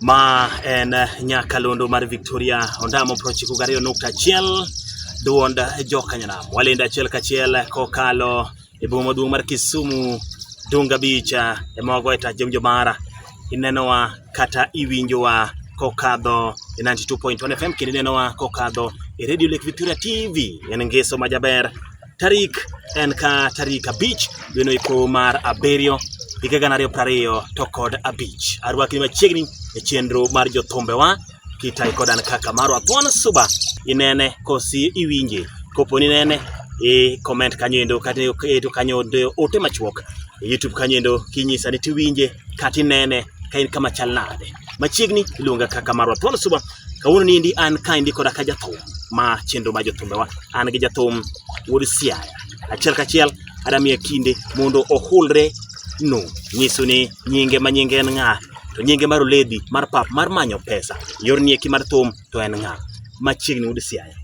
Ma en nyakalondo mar Victoria Ondamo prochiko gariyo nukta achiel duond jokanyanam walendo achiel kachiel kokalo e boma maduong' mar Kisumu Dunga Beach e mogo e tach jomjo mara inenowa kata iwinjowa kokadho e 92.1 FM kendo inenowa kokadho e Radio Lake Victoria TV en ngeso majaber tarik en ka tarik abich dwe noiko mar abiriyo higa gana ariyo prariyo to kod abich arwaki machiegni e chenro mar jothumbewa kitai kod an kaka marwa thuon suba inene kosi iwinje kopo ni nene i comment kanyo endo kata eto kanyo ote machuok e youtube kanyo endo kinyisa ni tiwinje kata inene ka in kama chal nade machiegni iluonga kaka marwa thuon suba Kawuono ni endi an ka endi koda ka jathum ma chenro ma jothumbewa an gi jathum wuod Siaya. Achiel kachiel adamiye kinde mondo ohulre no nyiso ni nyinge ma nyinge en ng'a to nyinge mar oledi mar pap mar manyo pesa yor nieki mar thum to en ng'a machiegni wuod Siaya.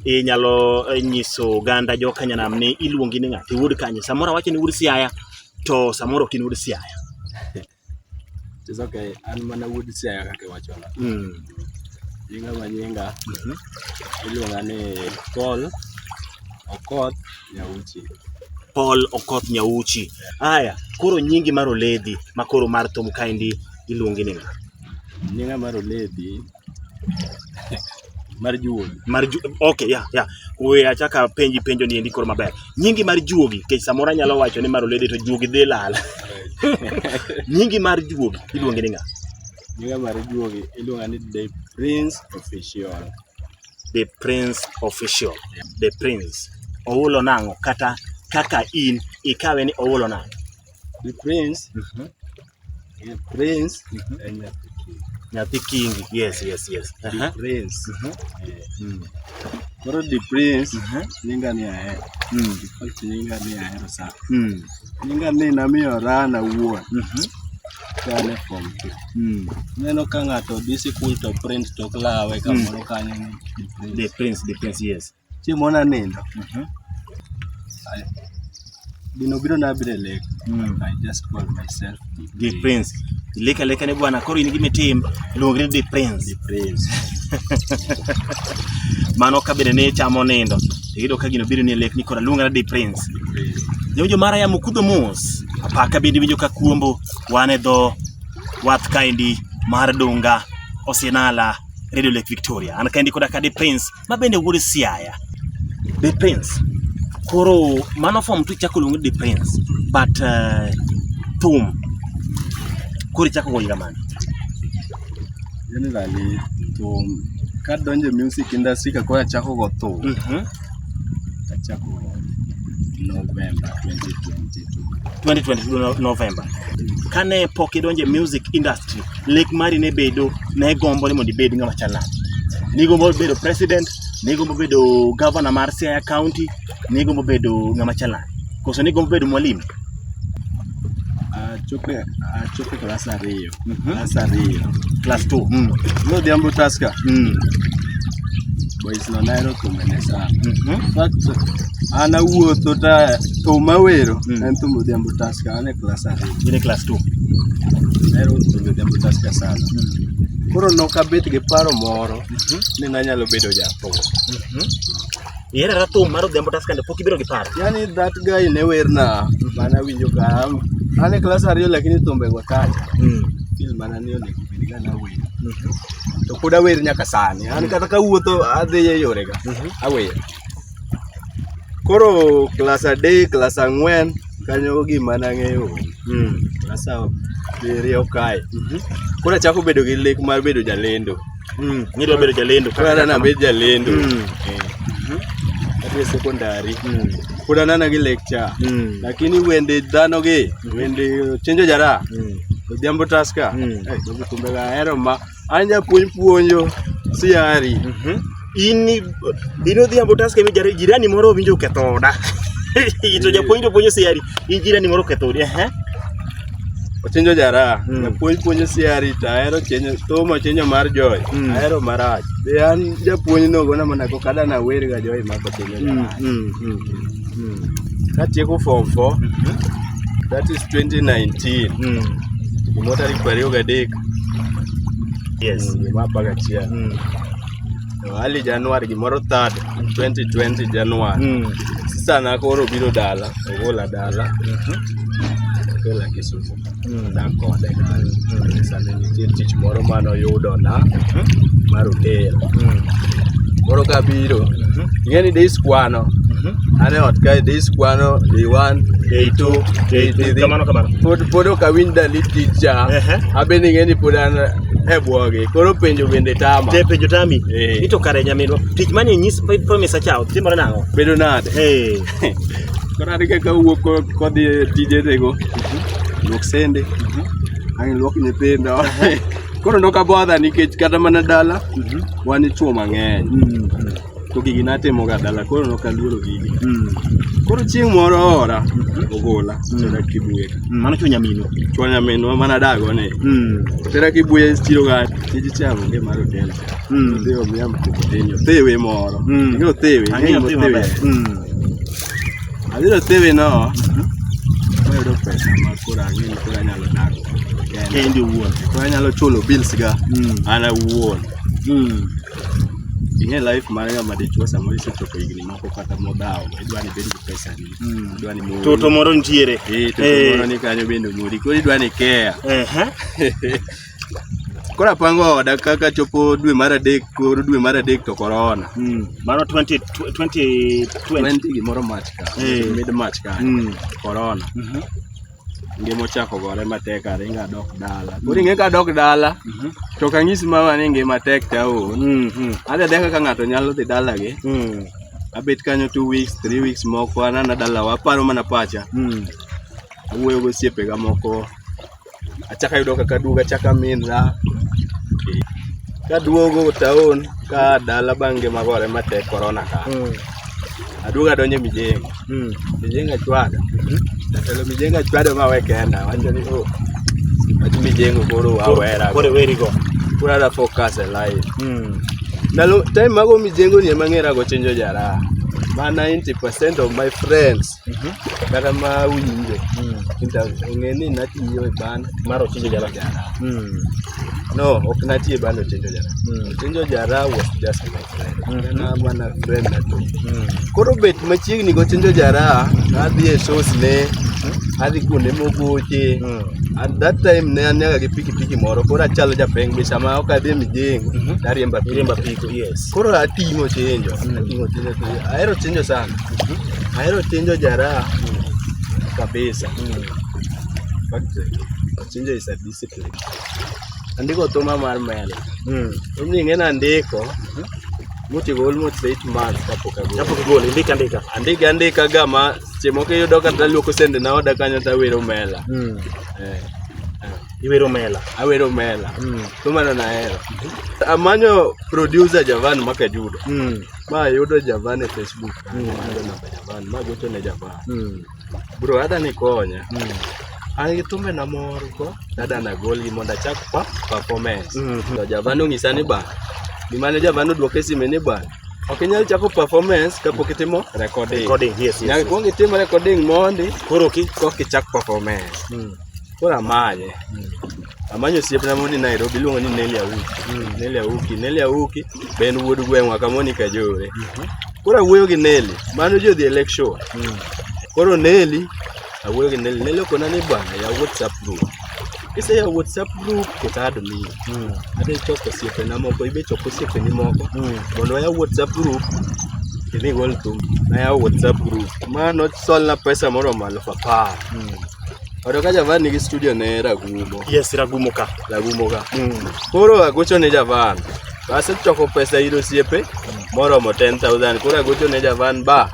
Inyalo eh, nyiso oganda jo Kanyanam ni iluongi ni ng'a to iwuod kanye. Samoro awacho ni wuod Siaya to samoro ok in wuod Siaya. It's okay. An mana wuod Siaya kaka iwachono. Mm. Nyinga ma nyinga Mhm. iluonga ni Paul Okoth Nyauchi. Paul Okoth Nyauchi. Aya, koro nyingi mar oledhi ma koro mar thum kaendi iluongi ni ng'a? Nyinga mar Oledhi mar juogi mar ju okay ya yeah, ya yeah. we achaka penji penjo ni endi koro maber nyingi mar juogi kech samora nyalo wacho ni mar olede to juogi dhi lal nyingi mar juogi iluonge ni nga nyinga mar juogi iluonga ni the prince official the prince official the prince oulo nango kata kaka in ikawe ni oulo nango the prince mm -hmm. Prince mhm. eh, Nyathi Kingi. Yes, yes, yes. The Prince. Mhm. Eh, mm. Koro The Prince mhm. nyinga ni ahero. Mm. Default nyinga ni ahero sana. Mm. Nyinga ni namiyo Rana wuon. Kane form two. Neno ka ng'ato dhi sikul to Prince to klawe kamoro kanyo ni The Prince. The Prince, The Prince, yes. Chieng' moro nanindo, Mhm. I- gino biro na biro e lek. Mm. I just call myself Di Prince. Ilika lika ne bwana koro in gimitim luongri Di Prince. The Prince. Mano ka bende ne chamo nindo. Iyudo ka gino biro ni lek ni kora luongana Di Prince. Jojo mara ya mukudho mos. Apaka bende winjo ka kuombo wan e dho wath kaendi mar Dunga Osinala Radio Lake Victoria. An kaendi koda ka Di Prince ma bende wuod Siaya. The Prince. Koro mano form tu chako luongo The Prince but uh, thum koro chako goyo kamano. Generally thum kadonjo e music industry ka koro achako go thum. Mm -hmm. Achako November 2022. 2022 November. Kane pok idonjo e music industry lek mari ne bedo ne gombo ni mondo ibed ng'ama chalak. Nigombo bedo president, nigombo bedo governor mar Siaya County, nigombo bedo ng'ama chalak. Koso nigombo bedo mwalimu? Achope, achope klas ariyo. Mhm. Klas ariyo. Class 2. Mm. Nodhiambo Tusker. Mm. Boys no naero thumbe ne sana. Mhm. In fact, an awuotho ta thum awero Mm. en thum Odhiambo Tusker. An e klas ariyo in e klas 2 ahero bedo jamutaska sana koro nokabet gi paro moro ni nanyalo bedo jathum ihero ra thum mar odhiambo tas kande pok ibiro gi paro yani that guy ne werna mana winjo ka an- an e klas ariyo lakini thumbego tayo fil mana ni onego bed ga nawer to pod awer nyaka sani an kata kawuotho adhi e yorega awer Koro klas adek, klas ang'wen kanyo gima nang'eyo mm. klas abiriyo kae mm -hmm. Koro achako bedo gi lek mar bedo jalendo mm. Nidwa bedo jalendo koro ana nabed jalendo mm. eh. mm -hmm. sekondari mm. Pod anana gi lecture mm. Lakini wende dhano gi mm. wende chenjo jara mm. Odhiambo taska mm. hey, eh, kumbe ahero ma An japuonj puonjo siari. Mm -hmm. In in odhiambo taske mi jirani moro winjo ketho oda. to japuonj to puonjo siari. In jirani moro ketho odi. Eh. Ochenjo jara. Mm. Japuonj puonjo siari to ahero chenjo tomo chenjo mar joy. Mm. Ahero marach. Be an japuonj no gona mana ko kada na wer ga joy ma ko chenjo. Mm. Mm. Mm. Mm. Katieko form 4. Mm -hmm. That is 2019. Mm. Motari kwa rio gadek. Yes. Mm, gima apar gachiel. Mm. Early January gimoro third 2020 January. Mm. Sisana koro obiro dala, ogola dala. Mhm. Ogola Kisumu. Mm. Dak kode kanyo. Mm. Sani nitie tich moro mane oyudona Mhm. mar hotel. Mm. Koro kabiro, Mhm. ing'e ni days kwano. Mhm. An e ot kae days kwano day one, day two, day three. Kamano kamano. Pod pod ok awinj dalili. tich cha Ehe. abende ing'e ni pod an e bwogi koro penjo bende tama Te penjo tami. Eh. Ito kare nyaminwa. Tich mane nyis promise achawo timore nang'o? bedo nade Eh. koro an kaka wuok ko- kodhi e tijenego luok sende ang' luok nyithindo koro nokabodha nikech kata mana dala wan ichuo mang'eny to gigi natimoga dala koro nokaluoro gigi Mm. koro chieng' moro ora ogola tera kibuye ka Mm, Mano chunya mino. chwa nyaminwa mana dago ni Mm. tera kibuye chiro ga tij chamo nge mar hotel Mm. dhi omiya mkokoteni othewe moro Mm. ing'e othewe Ang'eyo ing'e othewe maber. othewe Mm. adhi othewe no mayudo pesa ma koro ang'e ni koro anyalo dago Kendi owuon. koro anyalo chulo bills ga Mm. an awuon Mm. ing'e life mar ng'ama dichwo samoro isechopo higni moko kata modhawo idwa ni bed gi pesa ni hmm. idwa ni mori toto moro nitiere eh toto eh. moro ni kanyo bende mori koro idwa ni care ehe koro apango oda kaka chopo dwe mar adek koro dwe mar adek to korona hmm. mano 2020 gimoro mach ka eh. mid mach ka korona mhm. ngima ochako gore matek aringa adok dala koro ing'e kadok dala mhm. to kang'isi mama ni ngima tek taon mhm. adhi adhi kaka ng'ato nyalo dhi dalagi mhm. abet kanyo two weeks three weeks moko anana dalawa aparo mana pacha awuoyo gosiepega moko achaka yudo kaka duogo achaka minra kaduogo taon ka dala bang' ngima gore matek korona ka aduoga donje mijengo mm. mijengo achwada mm -hmm. jatelo mijengo achwada ma we kenda wacho ni oh wach mijengo koro wawera koro weri go koro ada focus e life mm. ndalo time mago mijengo ni emang'era go chenjo jara ma 90% of my friends Mhm. kata ma winje mm. ong'e ni natiyo e ban mar ochinjo jara mm. no ok natiyo e ban ochinjo jara mm. ochinjo jara was just my friend kana mm-hmm. mana friend nato mm. koro bet machiegni go ochinjo jara adhi e shows ne mm-hmm. adhi kuonde mogoche mm. at that time ne anyaga gi pikipiki moro koro achalo japeng be sama ok adhi e mijengo mm-hmm. tariemba piko yes koro ating'o chenjo ating'o chenjo ahero chenjo sana Ahero chinjo jaraha kabisa. Chinjo is a discipline. Andiko thuma mar mel. Mm. Mimi ng'e na ndiko. Mutigo mhm. almost 8 months kapok agolo. Kapok agolo, ndika ndika. Andika ndika gama chemo ke yudo kata luoko sende na oda kanyo ta wero mela. Mm. Eh. Iwero mela. Awero mela. Mm. Thuma na nahero. Amanyo producer Javan Makajudo. Mm. Ma yudo Javan e Facebook. Mm. Ayudo namba Javan, ma gocho ne Javan. Mm. Bro, adha ni konya. Mm. An gi thumbe na moro ko, adha na golgi mondo achak pa performance. Mm -hmm. To Javan ong'isa ni ba, gima ne Javan odwoke e sime ni ba, ok inyal chako performance kapok itimo recording. Recording, yes, yes. Nyaka yes. kuong itimo recording mondi, koro ki kok ichak performance. Mm. Koro amanye. Amanyo osiepna moni Nairobi iluongo ni Nelly Awuki. Nelly Awuki, Nelly Awuki be en wuod gweng'wa ka moni Kajore. Koro awuoyo gi Nelly, mano ji odhi e lake shore. Koro Nelly, awuoyo gi Nelly, Nelly okona ni bwana yaw WhatsApp group. Kiseyawo WhatsApp group to tado miyo. Adhi choko osiepena moko, ibe choko osiepeni moko. Mondo wayaw WhatsApp group idhi gol thum. Nayawo WhatsApp group. Ma nosolna pesa moromo aluf apar. Odo ka Javan nigi studio ne Ragumo. Yes, Ragumo ka. Ragumo ka. Mm. Koro agocho ne Javan. Asechoko pesa ir osiepe moromo 10,000. Koro agocho ne Javan ba.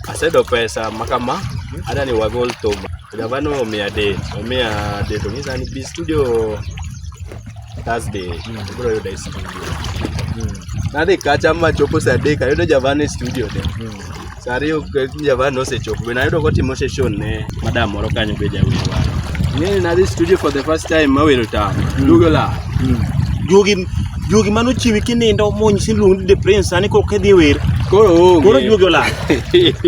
Asedo pesa makama. Ada ni wagol thum. Javan omiya date. Omiya date. Onyisa ni bi studio Thursday. Mm. Koro yuda e studio. Mm. Nadhi kacha machopo saa adek ayudo Javan e studio ne. Mm. Saa ariyo javan nosechopo bende ayudo kotimo session ne madam moro kanyo be jawer waro. Ng'eyo nadhi studio for the first time mawero tam. Dugo la. Juogi juogi mano chiwi kinindo monyisi luong de prince sani kok idhi wer. Koro onge. Koro juogi olal.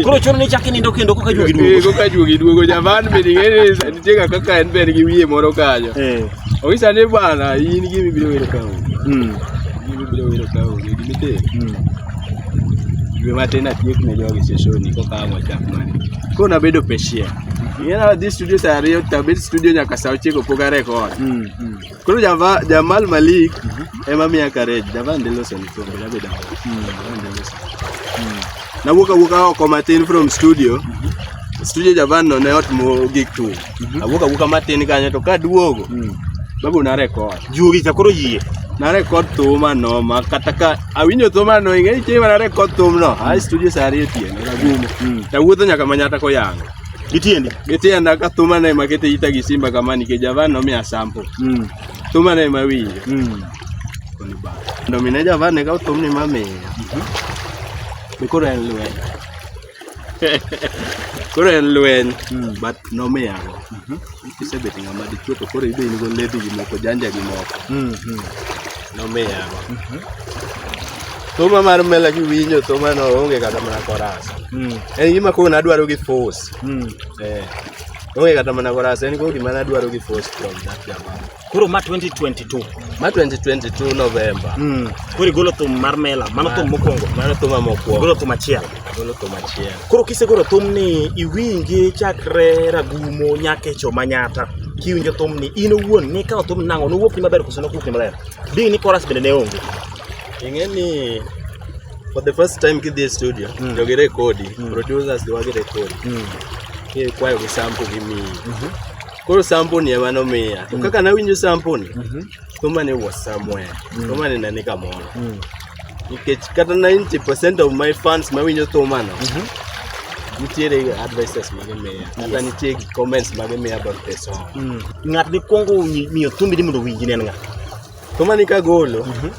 Koro chuno ni chak inindo kendo koka juogi Eh, duogo. Koka juogi duogo javan be ning'eni sa- nitie ga kaka en be en gi wiye moro kanyo. Eh. Onge sani bwana in gimi biro wero ka onge. Mm. Gimi biro wero ka onge. Gimi tero. Mm. Dwe matin atiek ne jogi seshoni kokawa wachak mani. Koro nabedo patient. Ing'eyo na dhi studio saa ariyo to abet studio nyaka saa ochiko pok arekod. Koro java- Jamal Malik ema miya courage. Javan dhi loso ni kombe nabedo aol. Javan dhi loso. Nawuok awuoka oko matin from studio. Studio Javan no ne ot mo gik thum. Mhm. awuok awuoka matin kanyo to kaduogo mm. babu na record juogi cha koro yie na record thum ano ma kata ka awinjo thum ano ing'e chieng' ma na record thum no a studio sa ariyo otieno nagumo mm. tawuotho nyaka manyata koyango gitiendi gitienda ka thum ano ema kete ita gi simba kama nikech javan nomiya sample mm. thum ano ema winjo mm. ndomine javan ne ka thumni mamiya mm -hmm. be koro en lwedo koro en lweny hmm. but nomiya go mhm. kisebet ng'ama dichuo to koro ibe in go ledhi gi moko janja gi moko hmm, hmm. nomiya go mhm. thuma mar mela kiwinjo thuma no onge kata mana korasa en gima koro nadwaro gi force eh. onge kata mana korasa en koro gima nadwaro gi force from that jamaa Koro ma 2022. Ma 2022 November. Mm. Koro igolo thum mar mela, mano thum mokwongo. Mano thum mokwongo. Igolo thum achiel. Igolo thum achiel. Koro kisegolo thum ni iwinje chakre ragumo nyaka echo manyata. Kiwinjo thum ni in owuon ni kawo thum nang'o nowuok ni maber koso nokuok ni maber. Ding ni chorus bende ne onge. Ing'e ni for the first time kidhi e studio, mm. jogi rekodi, mm. producers jogi rekodi. Mm. Kikwayo gi sample gimiyi. Mm -hmm. Koro sample ni ema nomiya. To kaka nawinjo sample ni, thumba ni was somewhere. Thumba ni nani kamoro. Nikech kata 90% of my fans mawinjo thumba no, nitiere advices ma gimiya. Kata nitie comments ma gimiya about the song. Ng'at mikwongo wi- miyo thumbi ni mondo owinji ne en ng'a? To mani kagolo, Mhm.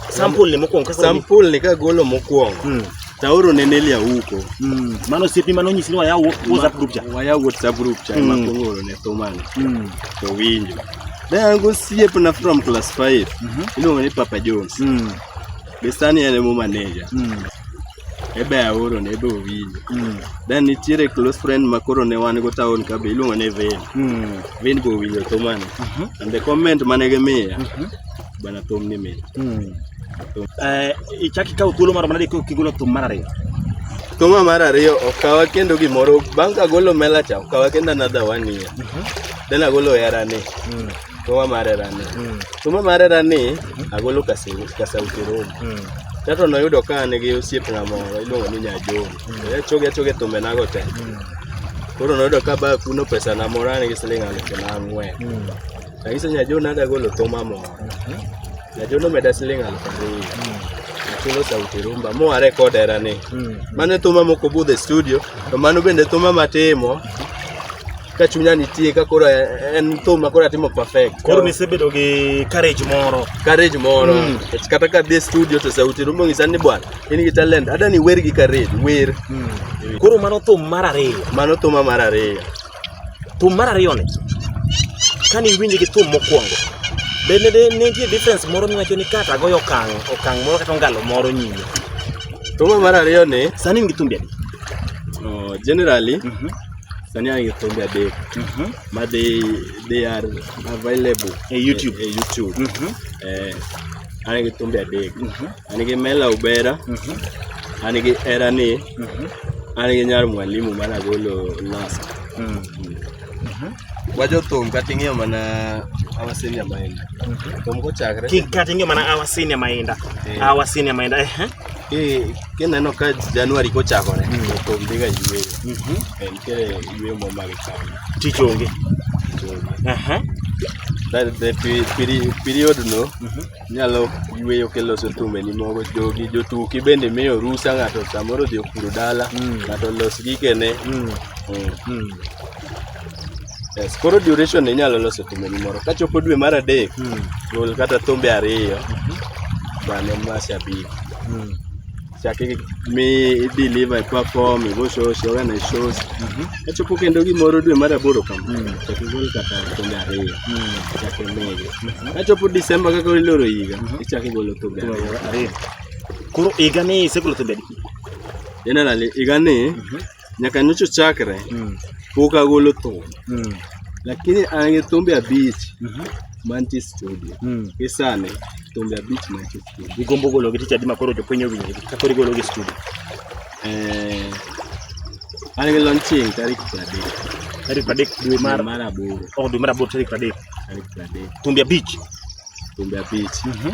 Sample ni mokwongo kaka sample ni kagolo mokwongo, Mm. taoro ne Nelly Awuko. Mm. Mano osiepi mano onyisi ni waya wo- WhatsApp group cha. Waya WhatsApp group cha Mm. ema kwongo oro ne Thumani. Mm. To winjo. Ne an gosiepna from class 5. Mhm. Iluongo ni Papa Jones. Mm. Be sani en emo manager. Mm. ebe aoro ne ebe owinjo mm. then nitiere close friend ma koro ne wan go town ka be iluongo ne Vin mm. Vin be owinjo thum ani uh mhm. -huh. and the comment mane gimiya uh mhm. -huh. bana thum ni mit mm. eh, ichaki kawo thuolo moro manade kigolo thum mar ariyo thuma mar ariyo okawa kendo gimoro bang' kagolo melacha okawa kendo another one year uh mhm. -huh. then agolo herani mm. to ma mare rani mm. to ma mare rani agolo ka se ka sa utero mm. tato no yudo ka ne gi osiep na mo iluongo ni nya jo mm. e choge choge to me na go te mm. koro no yudo ka ba kuno pesa na mo rani gi siling alu ke na ngwe mm. ka iso nya jo na ga golo to ma mo mm-hmm. nya jo no me da siling alu ke mm. chulo sauti rumba mo are kod era ni mm. mane thuma moko budhe studio to mano bende thuma matimo ka chunya nitie ka koro en thum ma koro atimo perfect. Koro nisebedo gi courage moro. Courage moro. Mm. Kata ka dhi studio to sauti rumo ngisa ni bwana, in gi talent. Ada ni wer gi courage, wer. Mm. Koro mano thum mar ariyo. Mano thum mar ariyo. Thum mar ariyo ni. Kani winji gi thum mokwongo. Bende de ne nitie difference moro miwacho ni kata goyo okang' okang' moro kata ngalo moro nyime. Thum mar ariyo ni. Sani in gi thumbi adi? Oh, generally. Mm -hmm. sani an gi thumbe adek Mhm. ma they, they are available E YouTube. e, e YouTube. Mhm. Eh, an gi thumbe adek Mhm. an gi mela ubera Mhm. an gi erani Mhm. an gi nyar mwalimu mane agolo last Mm. wajothum kata ing'iyo mana awasenia maenda Mhm. thum kochakre Ki- kata ing'e mana awa senior mainda Eh. awa senior mainda ehe Kineno ka Januari kochakore to onge ga yueyo. Eh, Nitiere yueyo moro ma gikawo. Tich onge. Aha. That the pe- peri- period no nyalo yueyo kiloso thumbeni moko jogi jotuki bende miyo rusa ng'ato samoro odhi opuro dala ng'ato los gikene Mm. Mm. Yes, koro duration inyalo loso thumbeni moro. Kachopo dwe mar adek, mm. gol kata thumbe ariyo. Mm -hmm. Mano masha big. Mm. Chaki mi deliver e perform, igo shows, yoga na shows. Mm -hmm. Kachopo kendo gimoro dwe mar aboro kama. Mm. Chaki gol kata thumbe ariyo. Mm. Chaki mege. Mm -hmm. Kachopo December kaka iloro higa, mm -hmm. ichaki golo thumbe ariyo. Koro higa ni isegolo thumbe adi? Generally higa ni mm -hmm. nyaka nyocha ochakre mm. pok agolo thum mm. lakini an gi thumbe abich mm -hmm. mantie studio mm. gi sani thumbe abich mantie studio igombo gologi tich adi makoro jopiny owinjgi ka koro igologi studio eh, an gi launching tarik pradek tarik pradek dwe mar mar aboro oh, dwe mar aboro tarik pradek tarik pradek thumbe abich thumbe abich mm -hmm.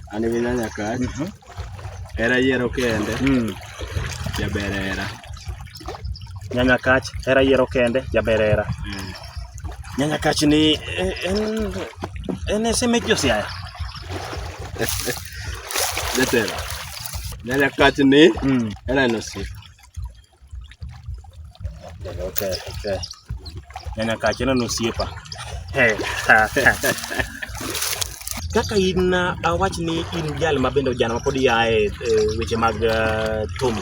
An gi nyanya kach. Mhm. Hera yiero kende. Mm. Jaber hera. Nyanya kach hera yiero kende jaber hera. Mm. Nyanya kach ni e, en en ese mek josiaya. Jatelo. Nyanya kach ni mm. hera en osiep. Okay, okay, okay. Nyanya kachana na osiepa. Kaka in uh, awach ni in jal ma bende ojana mapod yae e, weche mag uh, thum.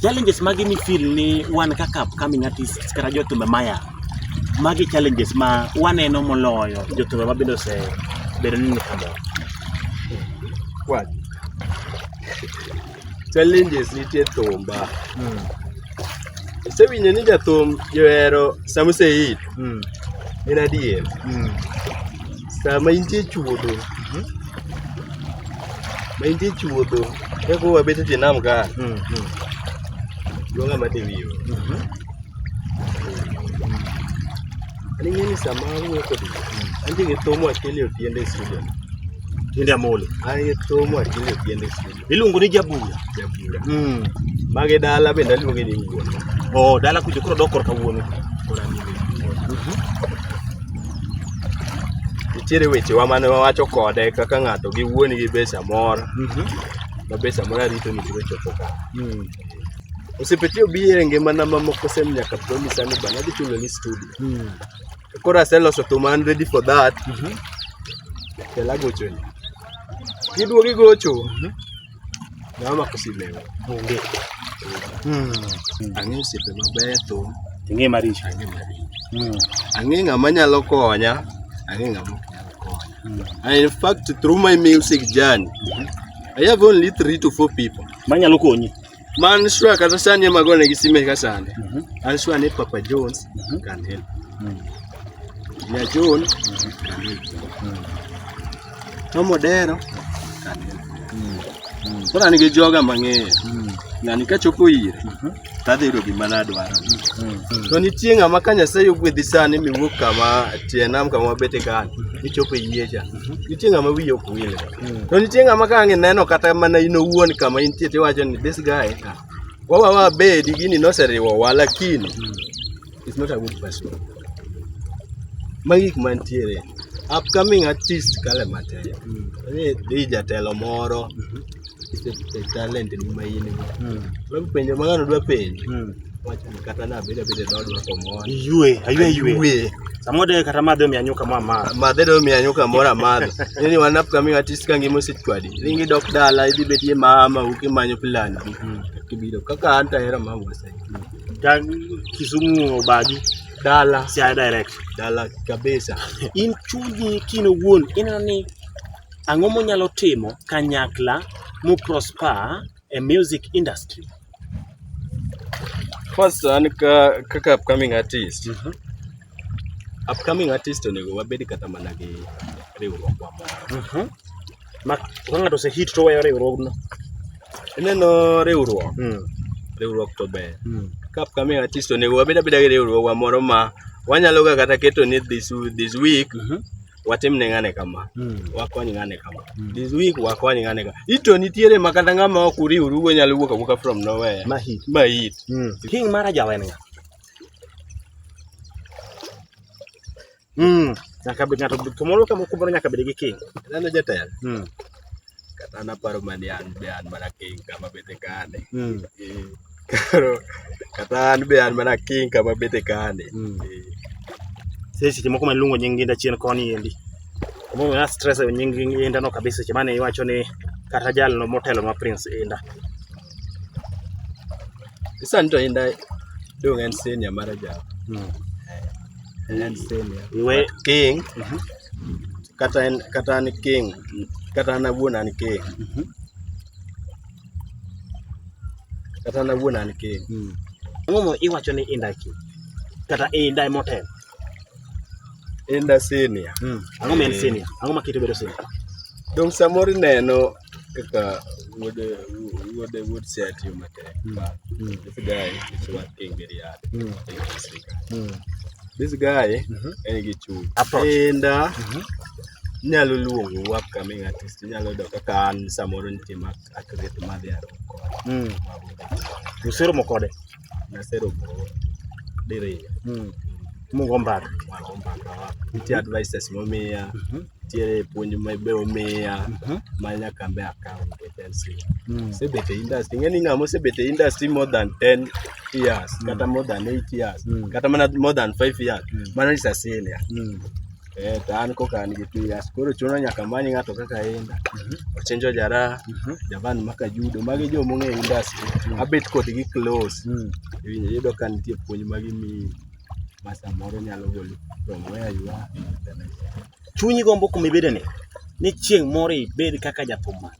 Challenges mage mi feel ni wan kaka upcoming artists kata jothumbe maya. Magi challenges ma waneno moloyo jothumbe ma bende ose bedo ni ni kama. What? Challenges nitie thumba. Mm. Isewinjo ni jathum johero sama oseik. Mm. En adier. Mm. Sama intie chuodho. Mm. Ma intie chuodho. Eko wabet e tie nam ka. Mm. Mm. Luonga mate wiyo. Mm -hmm. Ani ng'e ni sama awuoyo kodi. Mm. Antie gi thum achiel e otiende e studio. Tiende amolo. An gi thum achiel e otiende e studio. Iluongo ni Jabula. Jabula. Mm. Mage dala bende aluonge ni wuon. Oh, dala kujo koro dok korka wuon. Kora ni. Mhm. Nitiere weche wa mane wawacho kode kaka ng'ato gi wuon gi be samoro. Mhm. Ma be samoro arito ni biro chopo ka. Mm. Osepeti obi e ngimana mamoko sem nyaka promise ni bana dhi chulo ni studio. Mm. Koro aseloso thum an ready for that. Mhm. Kel agocho ni. Kiduogo igocho. Mhm. Na mama kusilewa. Onge. Mm. Ang'e osiepe maber thum. Ing'e maricho. Ang'e maricho. Mm. Ang'e ng'ama nyalo konya. Ang'e ng'ama ok nyal konya. Mm. And in fact, through my music journey, I have only three to four people. Manyalo konyi. Man sure kata sani ema gone gi sime ka sande. Mhm. An sure ni Papa Jones mhm. can help. Mhm. Ya John can help. Tomo dero can help. Koro an gi joga mang'eyo. Ng'ani ka chopo ire tadhi yudo gima nadwaro. To nitie ng'ama ka Nyasaye ogwedhi sani miwuok kama tie nam kama wabete kani, ichopo e yie cha. nitie ng'ama wiye ok wil to nitie ng'ama ka ang' ineno kata mana in owuon kama intie tiwacho ni this guy ka wawa wabedi gini noseriwo wa lakini it's not a good person magi gik mantiere upcoming artist kale mateyo ni dhi jatelo moro talent ni ma in go. Log penjo ma ng'ano dwa penjo. Wacho ni kata na beda beda dod ma komon. Yue, ayue yue. Samoro de kata madhe omiya nyuka ma ma. Madhe de omiya nyuka moro amadho. Nini wanap kami watis ka ngimo sitwadi. Ringi dok dala idhi bedie mama uki manyo plan. Kibiro kaka anta era mama wasa. Ta Kisumu obagi. Dala. Siaya direct. Dala kabisa. In chunyi kino wuon ineno ni Ang'o monyalo timo kanyakla mu prosper e music industry? First an ka kaka upcoming artist. Mm -hmm. Upcoming artist onego wabed kata mana gi riwruok wa moro. Mm -hmm. Ma ka ng'ato ose hit to weyo riwruogno. Ineno riwruok. Mm. Riwruok to ber. Mm. Ka upcoming artist onego wabed abeda gi riwruogwa moro ma wanyalo ga kata keto ni this, this week mm -hmm. watim ne ng'ane kama mm. wakony ng'ane kama mm. this week wakony ng'ane kama ito nitiere ma kata ng'ama ok uriwru go nyalo wuok awuoka from nowhere ma hit ma hit mm. king mara jawen nga mm. nyaka bed ng'ato kamoro kamoro nyaka bed gi king neno jatelo mm. kata naparo mane an be an mana king kama bete kane mm. eh, karo kata an be an mana king kama bete kane mm. eh. Sasa seche moko maluongo nying ginda chien koni endi momiyo na stress e nying inda no kabisa seche mane iwacho ni kata jal no motelo ma prince inda Sasa nito inda dong en senior mara jal mm. Eh, en senior Iwe... king mm -hmm. kata en kata an keng kata an awuon an keng mhm. kata an awuon an keng mm. ang'o iwacho ni inda keng kata inda motel inda senior mm. ang'o ma en eh. senior ang'o ma kite bedo senior dong samoro ineno kaka wuod wuod wuod Siaya tiyo matek mm. but mm. this guy is working very hard mm. mm. this guy mm -hmm. en gi chuny enda uh, mm -hmm. nyalo luongo wa kami artist nyalo do kaka an samoro nitie ma akret madhi aro kode mm. usero mokode naseromo diriyo mm. mugo mbaka mugo mbaka nitie advices momiya mhm. nitie puonj ma be omiya mhm. ma nyaka be akaw nikech en si mm. sebet e industry ing'e ni ng'a mosebet e industry more than 10 years mm. kata more than 8 years kata mana more than 5 years mana is a senior Eh, to an koka an gi two years koro chuno nyaka many ng'ato kaka inda ochenjo jara javan maka judo magi jo mong'e industry abet kodgi close Mm. Iwinjo- iyudo ka nitie puonj ma gimiyi ma samoro nyalo goli from where you are in the next chunyi gombo kuma ibedeni ni chieng' moro ibed kaka jathum mane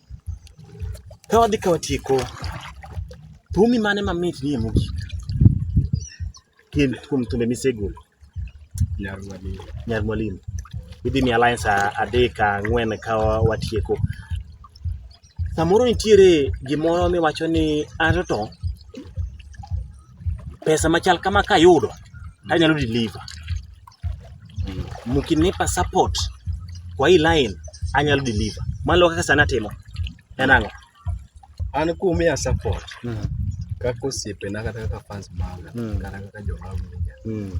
Ka wadhi ka watieko, thumi mane mamit nie mogik kuom thumbe misegolo? Nyar Mwalimu. Nyar Mwalimu. Idhi miya lines adek ang'wen ka watieko. Samoro nitiere gimoro miwacho ni anto to pesa machal kama kayudo tanyalo deliver mkinipa support kwa hii line anyalo deliver malo kaka sana timo en ang'o an kumiya support mm. kaka osiepena kata kaka fans maga mm. kata kaka jomaga mm.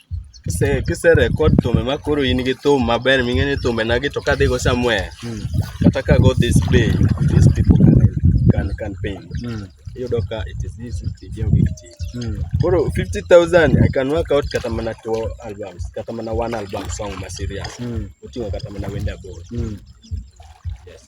kise kise record thumbe ma koro in gi thum maber ming'e ni thumbe nagi to kadhi go somewhere Mm. kata ka go this way these people can can can pay Mm. iyudo ka it is easy to give big thing Mm. koro 50000 i can work out kata mana two albums kata mana one album song ma serious Mm. oting'o kata mana wende aboro Mm. yes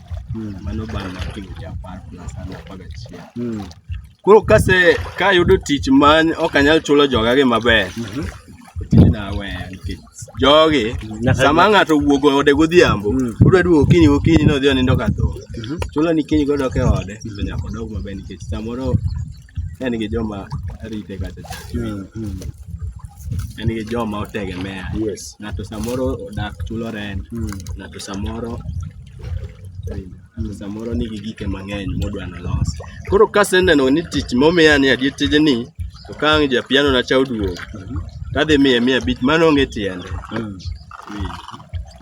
mm. mano bang' mar timo cha apar plus ano apar gachiel mm. koro kase kayudo tich ma ok anyal chulo jogagi maber mm -hmm. tijna aweya nikech jogi sama ng'ato wuogo ode godhiambo mm. odwa duogo okinyi gokinyi ni odhi onindo ka tho mm -hmm. chulo ni kinyi godok e ode mm. to nyaka odog maber nikech samoro en gi joma rite kacha cha mm, mm. en gi joma otegemea yes. ng'ato samoro odak chulo rent mm. ng'ato samoro samoro nigi gike mang'eny modwa nolos koro kaseneno ni tich momiya ni adier tijni to ka ang' japiano na cha oduogo mm-hmm. tadhi miye miya abich mano onge tiende mm.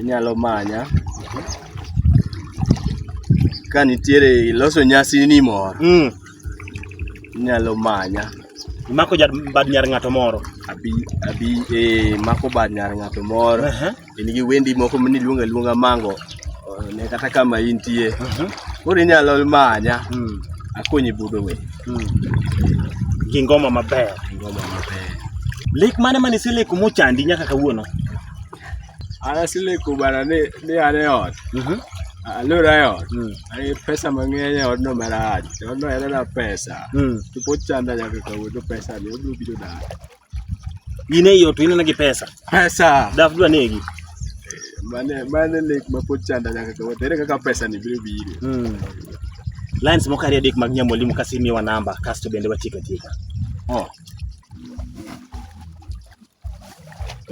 inyalo manya ka nitiere iloso nyasi ni moro mm. inyalo manya imako bad nyar ng'ato moro abi abi eh, mako bad nyar ng'ato moro uh -huh. in gi wendi moko mniluonga luonga mango ne kata kama intie mhm. koro inyalo manya hmm. akonyi budo we hmm. gi ngoma maber ngoma maber lek mane mane iseleko mochandi nyaka kawuono an aseleko bana ni ni an e ot mhm. alura e ot hmm. ani pesa mang'eny e odno marach odno en na pesa to pod chanda nyaka kawuono pesa ni obiro biro dala Ine hiyo tu ine na kipesa. Pesa. Dafu dua negi. Mane mane lek mapochanda nyaka kwa tere kaka pesa ni biru biru. Mm. Lines mokari adik mag nyamolimu kasimi wa namba kasto bende watika tika. Oh.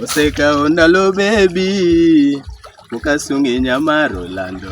Osekawo ndalo bebi ukasungi nyamaro lando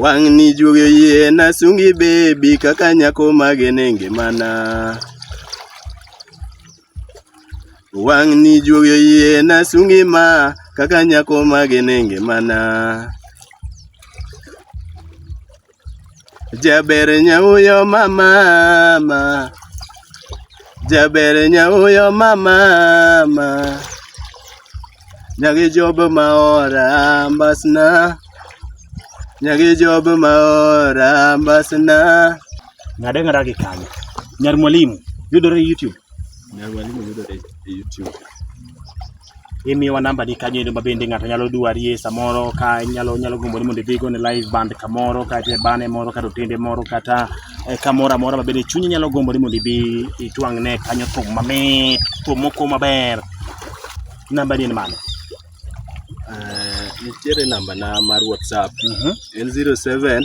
Wang'ni juoge yie nasungi bebi kaka nyako mage ne ngimana. Wang'ni juoge yie nasungi ma kaka nyako mage ne ngimana. Jaber nyauyo mama ma. Jaber nyauyo mama ma. Nyagi job maora mbasna. Nyagi job maora mbasna. Ng'ade ng'ada gi kanyo. Nyar mwalimu yudore e YouTube. Nyar mwalimu yudore e YouTube. imiyowa namba ni kanyo endo ma bende ng'ato nyalo dwarie samoro ka nyalo nyalo gombo ni mondo idhi go ne live band kamoro kata e bane moro kata otende moro kata e, kamoro amora ma bende chunyi nyalo gombo ni mondo ibi itwang' ne kanyo thum mamit thum moko maber namba ni en mano Eh, nitiere namba na mar whatsapp Mhm. en 07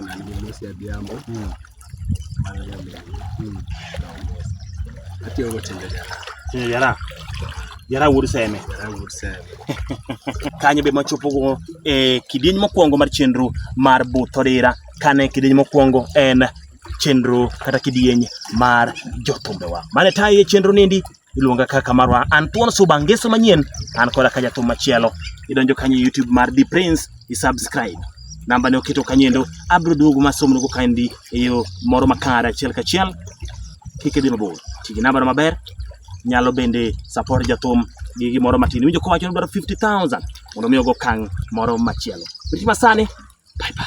na Moses Adhiambo hmm. mano nyamin hmm. atiyo go timbe jara timbe jara jara wuod seme jara wuod seme kanyo be machopo go e kidieny mokwongo mar chenro mar butho dira kane kidieny mokwongo en chenro kata kidieny mar jothumbewa mane taye chenro nindi iluonga kaka marwa an thuon suba ngeso manyien an koda ka jathum machielo idonjo kanyo youtube mar the prince isubscribe namba ne oketo kanyendo abiro duogo masomnugo kandi e yo moro makare achiel kachiel kik idhi mabor ti gi nambano maber nyalo bende support jathum gi gimoro matin iwinjo kowacho ni dwaro 50000 mondo mi ogo okang' moro machielo riti masani bye bye